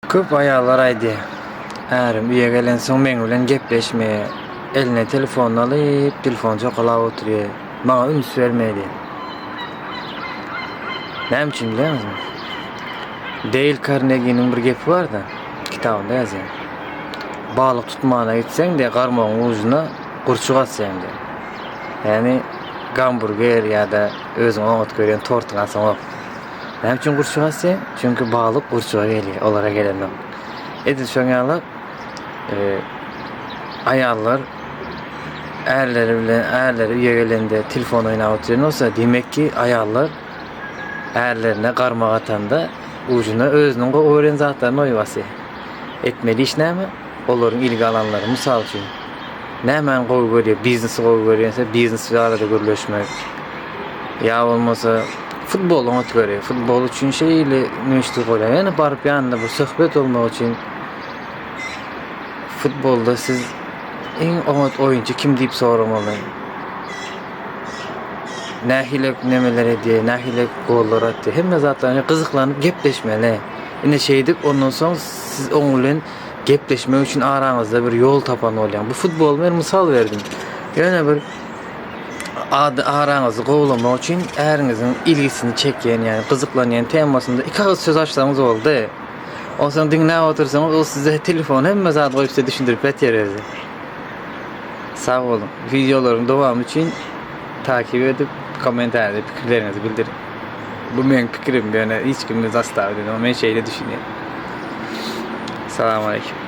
Köp aýallar aýdýar, ärim uýa gelensoň meň bilen gepleşmeýär, eline telefonyny alyp, telefony çokalap oturýar, maňa üns bermeýär diýip. Näme üçin bilýäňizmi? Deýl Karneginiň bir gepi bar-da, kitabynda ýazýar. Balyk tutmana gitseň diýýär, garmagyň ujuna gurçuk asýaň diýýär. Ýagny gamburger ýa-da özüň oňat görýän tortyňy asaňok. Näme üçin gurçuk asýa? Çünki balyk gurçuga gelýär, olara gelenok. Edil şoň ýaly e, aýallar ärleri bilen ärleri üýe gelende telefon oýnap oturan bolsa, demek ki, aýallar ärlerine garmak atanda ujuna özüniň gowy gören zatlaryny oýup asýar. Etmeli iş näme? Olaryň ilgi alanlary, mysal üçin, nämäni gowy görýär? Biznesi gowy görýänse, biznes barada gürleşmek. Ýa bolmasa, futbola oňat görýär. Futbol üçin şeýle müşderi bolýar. Ýöne baryp ýanynda bir söhbet bolmak üçin futbolda siz iň oňat oýunçy kim diýip soramaly. Nähili nemeler edýär, nähili gollar atýar. Hemme zatlaryny gyzyklanyp gepleşmeli. Ine şeýdip, ondan soň siz oň bilen gepleşmek üçin araňyzda bir ýol tapan bolýaň. Bu futboly men mysal berdim. Ýöne bir ady araňyzy gowlamak üçin äriňiziň ilgisini çekýän, ýani gyzyklanýan temasynda iki agyz söz açsaňyz boldy. Onsoň diňläp otyrsaňyz, ol size telefon hemme zady goýup size düşündirip beter özi. Sag boluň. Wideolaryň dowamy üçin takyp edip, kommentariýada pikirleriňizi bildiriň. Bu meň pikirim, ýöne hiç kimi zastawiýt edemok, men şeýle düşünýän. Salam aleýkum.